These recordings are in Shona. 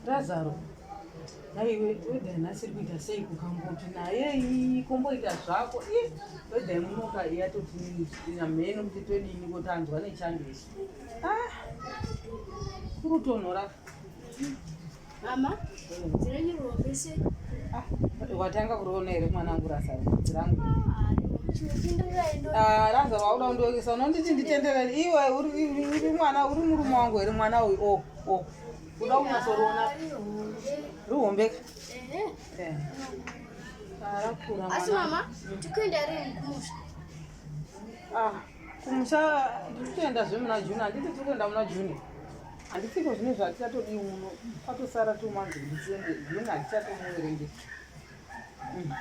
Razaro, naiwe wega nhasi iri kuita sei kukamboti naye iyi komboita zvako i wega imunoka yatotiina mheno kuti todini kotanzwa nechando isu ah, kurutonhora mama dziranyirwa vese Ah, watanga kuriona here mwana wangu rasa rudzi rangu ah, raza wauda kundiokesa unonditi nditenderere iwe uri mwana uri murume wangu here mwana uyu o o uda kunyasoriona rihombeka rakura asi mama tikuenda rini kumusha ah. kumusha ndiri kutoenda zve muna june handiti tiri kuenda muna june handisiko zvine zvatichatodii uno kwatosara two months kuti tiende june hatichatomuverenge mm.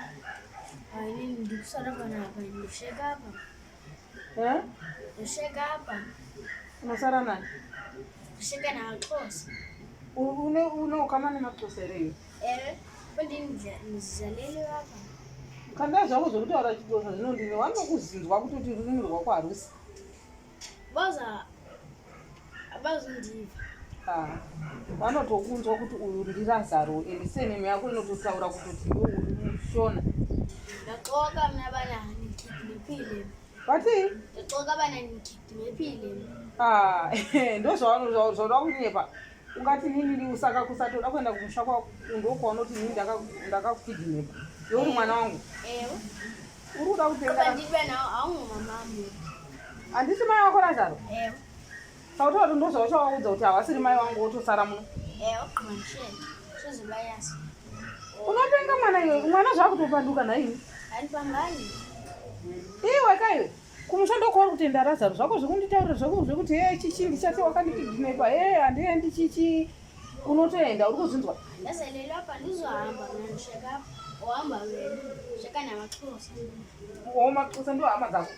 ndikusara panapa ndosheka apa eh? ndosheka apa unosara nani ndosheka naaxosa une ukama nemaxosa ereyo kanda zvako zvekutaura chidosa zvinondini wanokuzinzwa kutoti rurimi rwako harusi vanotokunzwa kuti uyu ndirasaro and senemu yako inototaura kutoti iweurishona vatii ndozvavanoda kunyepa ungati nini ndiu saka kusatoda kuenda kumusha kwako ndokwaunoti nini ndakakukidhinepa youri mwana wangu uri kuda kutengahandisi mai wako razaro sautaura kuti ndozvauchawaudza kuti hawasiri mai wangu wotosara muno unopenga mwana iwe mwana zvakutopanduka nhaii iwe kaiwe kumusha ndokuva kutenda razaro zvako zvekunditaurira zvako zvekuti he chichi ndichati wakandikidhinepa he handiendi chichi unotoenda uri kuzvinzwa maxosa ndo hama dzako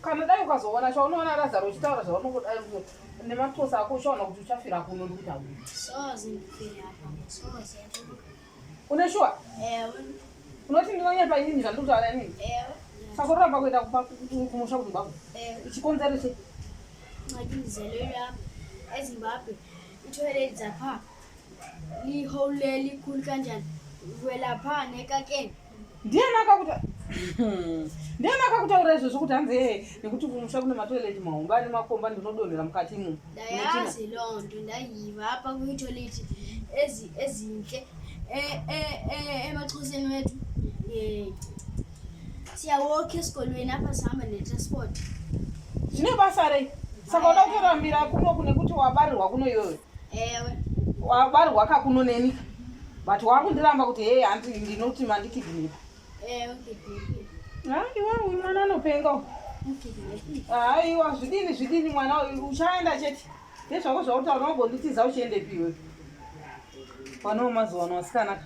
kana dai ukazoona sha unoona razaro uchitaura zvaunongodai nemaxosa ako ushaona kuti uchafira kuno ndikutaura Une shuwa? Ewe. Unoti ndinonyepa inini zvandiri kutaura inini? Ewe. Saka unoramba kuenda kumba kumusha kumba uko? Ewe. Chikonzero chei? Mati ndizelere apa eZimbabwe itoere dzapha lihouleli kuli kanjani vwelapha nekakeni Ndiani akakuta Ndiani akakutaura izvozvo kuti hanzi ee nekuti kumusha kune matoilet mahombe ane makomba ndinodonhera mukati imo. Ndayazi londo ndayiva apa ku toilet ezi ezinhle e e e emaxhoseni wethu. Eh. Siyawokhe esikolweni apha sihamba ne transport. Zvine basa rei? Saka uda kutorambira kuno kune kuti wabarirwa kuno iyoyo. ewe wabarwa kakuno neni but wakundiramba kuti hei hanti ndinoti mandikidhinipa ewe aiwa uyu mwana anopenga u aiwa zvidini zvidini mwana uyu uchaenda chete ndezvako zvauta unogonditiza uchiendepiwe panowo mazuva ano asikanaka